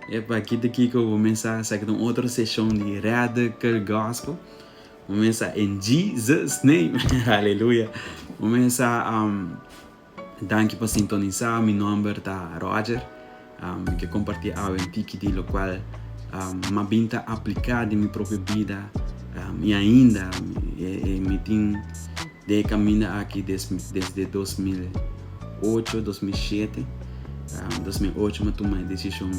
Epa, ki ta kiko bo mester a hacer un otro seshon di radical gospel? Bo mester a, in Jesus name! Aleluya! Bo mester a Danki pa sintonisa. Mi nomber ta Roger. Mi ke kompartí awe un tiki di lokual mi a bin ta apliká den mi propio bida i ainda mi tin. Den e kaminda aki desde dos mil i ocho, dos mil i shete, dos mil i ocho mi a tuma e desishon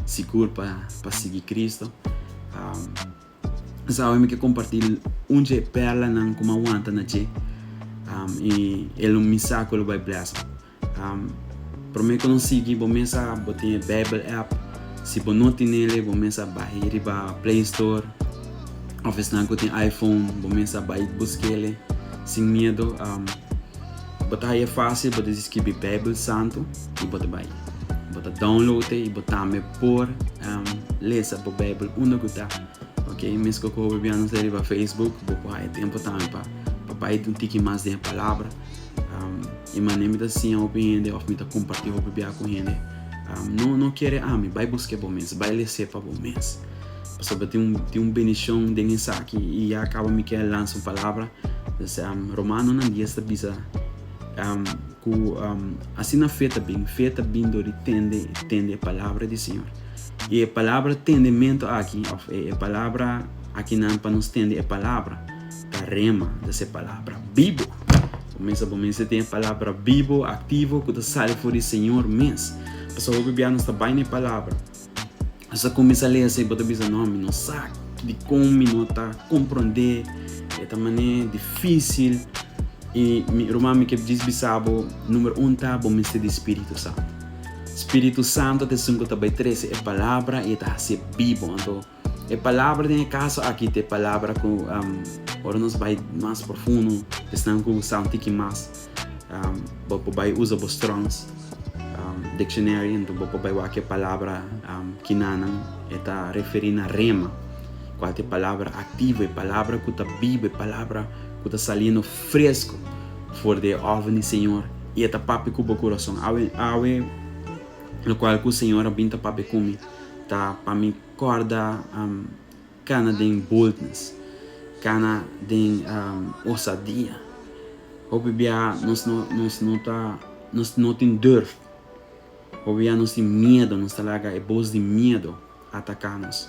sigur pa sigui Kristu. Nos awe mi ke kompartí un dje pèrlanan ku mi a wanta na dje i e lo mi sa ku e lo bai blèsd. Prome ku nos sigui bo mes a bo tin e Bijbel app. Si bo no tin ele bo mes a bahi riba Play Store of esnan ku tin iPhone bo mes a bai buskele sin miedo. Bo ta haya fásil bo ta skibi Bijbel Santu i bo ta bai. Bo ta download e i bo tambe por lesa bo Bijbel unda ku ta. Ok mesku ku hobibianos riba Facebook bo por haya tempu tambe pa bai un tiki mas den e palabra. E manera mi ta siña hopi hende òf mi ta kompartí hopi bia ku hende, no no kere ami, bai busk'é bo mes, bai les'é pa bo mes. Pasobra tin un tin un bendishon den esaki i ya kaba mi ke lansa un palabra, pues Romanonan dies ta bisa ku asina fe ta bin, fe ta bin dor di tende i tende e palabra di Señor. I e palabra tendementu aki òf e palabra aki nan pa nos tende e palabra, Ta Rema, ta se Palabra bibo. Bo mester, bo mester tin e Palabra bibo, aktivo, ku ta sali for di Señor mes. Pasa hopi bia nos ta bai na e Palabra, nos ta kuminsá lesa i bo ta bisa, No, mi no sa dikon mi no ta komprondé, e ta manera difísil. I mi ruman, mi ke djis bisa bo, Número un ta, bo mester di Spiritu Santu. Spiritu Santu ta esun ku ta bai trese e Palabra i e ta hasié bibo. Anto. E palabra den e kaso aki ta e palabra ku ora nos bai mas profundo, esnan ku sa un tiki mas, bo por bai usa bo Strongs Dictionary enton bo por bai wak e palabra kinanan e ta referí na rema, kual ta e palabra aktivo, e palabra ku ta biba, e palabra ku ta saliendo fresko for di e òver di Señor i e ta papia ku bo kurason. Awe, awe lokual ku Señor a bin ta papia ku mi ta pa mi. Corda cana den boldness, cana den osadia. Hopi bia nos no nos no ta nos no tin durf. Hopi bia nos tin miedo, nos ta laga e bos di miedo ataca nos.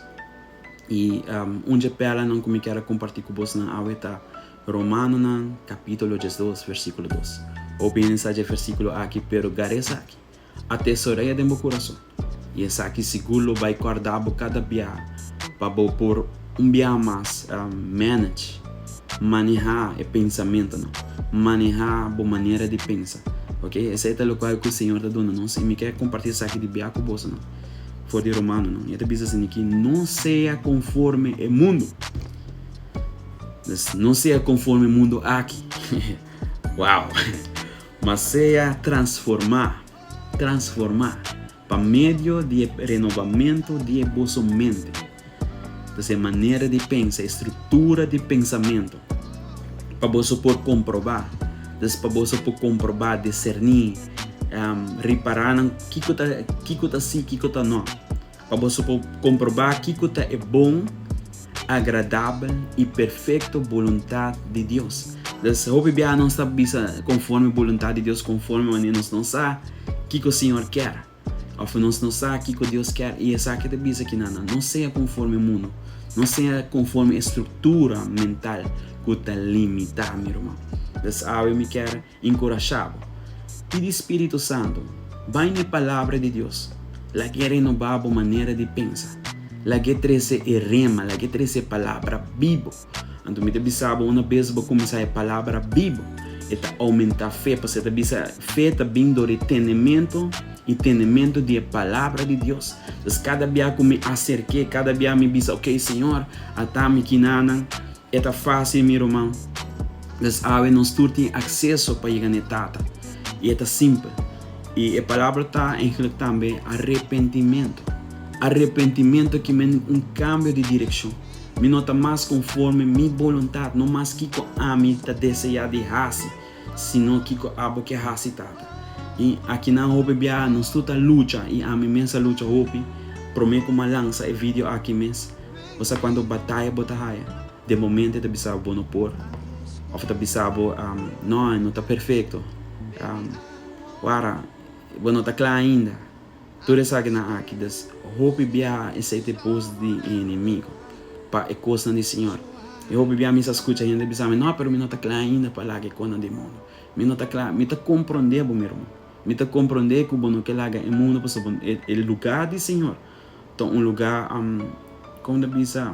Y un dje perlanan cu mi ker a comparti cu bos nan awe ta Romanonan capitulo diesdos versiculo dos. Hopi hende sa dje versiculo aki pero gar'esaki. Atesorea den bo kurason, i esaki sigur lo bai kòrda bo kada bia pa bo por un bia mas manage, manehá, e pensamentunan, manehá bo manera di pensa. Ok, esei ta lokual ku e Señor ta duna nos, i mi ke kompartí esaki di bia ku bosonan for di Romanonan. E ta bisa sin aki, No sea konforme e mundu. Nos, no sea konforme e mundu aki. Wow! Ma sea transformá, transformá, pa medio di e renobamentu di e boso mente, dus e manera di pensa, e struktura di pensamentu, pa boso por komprobá, dus pa boso por komprobá, deserní, ripará nan kiko ta kiko ta sí, kiko ta no, Pa boso por komprobá kiko ta e bon, agradabel i perfekto boluntat di Dios. Des hopi biaha nos ta bisa konforme boluntat di Dios konforme manera nos no sa kiko Señor ker, òf nos no sa kiko Dios ker. I esaki ta bisa ki nan nan no sea konforme mundu, no sea konforme e struktura mental ku ta limitá mi ruman. Des awe mi ker Encorashá bo. Pidi Spiritu Santu, Bai na e Palabra di Dios, lag'E renobá bo manera di pensa, lag'E trese e Rema, lag'E trese e Palabra bibu. Anto mi ta bisa bo, una bes bo cuminsá e Palabra bibu, e ta aumentá fe, pasobra e ta bisa, Fe ta bin dor di tenementu, i tenementu di e Palabra di Dios. Entonces, cada bia cu mi acerk'E, cada bia mi bisa, Oké, Señor, ata mi kinanan, E ta fásil, mi ruman, pues awe nos tur tin akseso pa yega na e Tata, i e ta simpel. I e palabra ta eigenlijk tambe arepentimentu. Arepentimentu ki men un kambio di direkshon. Mi no ta mas konforme mi boluntat, no mas kiko ami ta deseá di hasi. Si no kiko abo ke hasi tata. Y aki nan hopi biaha nos tur ta lucha y ami mes a lucha hopi, prome cu m'a lansa e video aki mes, bo sa cuanto bataya bo ta haya, den momente ta bisabo bo no por, of ta bisabo no, no ta perfecto, wara bo no ta cla ainda. Tur esakinan aki ta hopi biaha esei ta e bos di e enemigo pa e kosnan di Siñor. I hopi biaha mi sa skucha hende bisa mi, No, pero mi no ta kla ainda pa laga e kosnan di e mundu. Mi no ta kla. Mi ta komprondé bo, mi ruman. Mi ta komprondé ku bo no ke laga e mundu pasobra e lugá di Siñor ta un lugá, kòm mi ta bisa?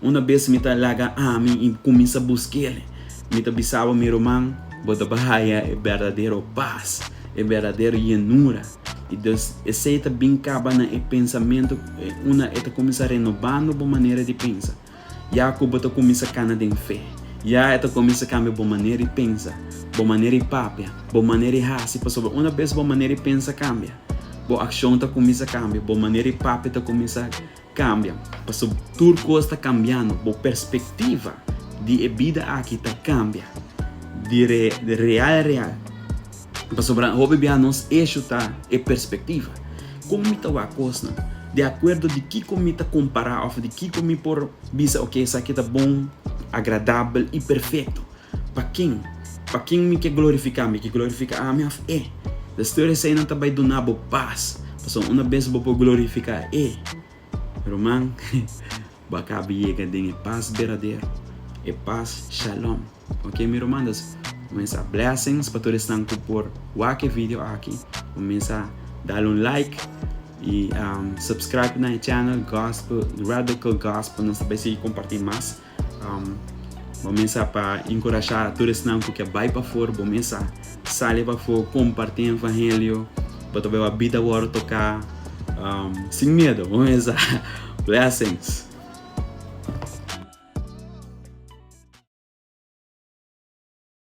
Una bes mi ta laga ami i kuminsá busk'el, mi ta bisaba mi ruman, Bo ta bai haya e berdadero pas, e berdadero yenura. I dus, esei ta bin kaba na e pensamentu una e ta kuminsá renobando bo manera di pensa. Ya ku bo ta kuminsá kana den fe, ya e ta kuminsá kambia bo manera di pensa, bo manera di papia, bo manera di hasi, pasobra una bes bo manera di pensa kambia, bo akshon ta kuminsá kambia, bo manera di papia ta kuminsá. Kambia, paso tur kos ta kambiando, bo perspektiva di e bida aki ta kambia di real real. Pasobra hopi bia nos eshu ta e perspektiva. Kon mi ta wak kosnan? Di akuerdo di kiko mi ta kompara òf di kiko mi por bisa, oke esaki ta bon, agradabel i perfekto. Pa kin? Pa kin mi ke glorifiká? Mi ke glorifiká ami òf E? Des tur eseinan ta bai duna bo pas, pasobra una bes bo por glorifiká E, ruman, bo a kabi yega den e pas berdadero, e pas Shalom. Oke mi rumannan, bo mester blessings pa tur esnan ku por wak e video aki. Bo mester dal un like i subscribe na e channel Gospel, Radical Gospel. Nos ta bai sigui kompartí mas. Bo mesa pa enkurashá tur esnan ku ke bai pafor. Bo mesa sali pafó, kompartí evangelio. Bo ta beba bida bo wòrdu toká sin miedu. Bo mesa. Blessings!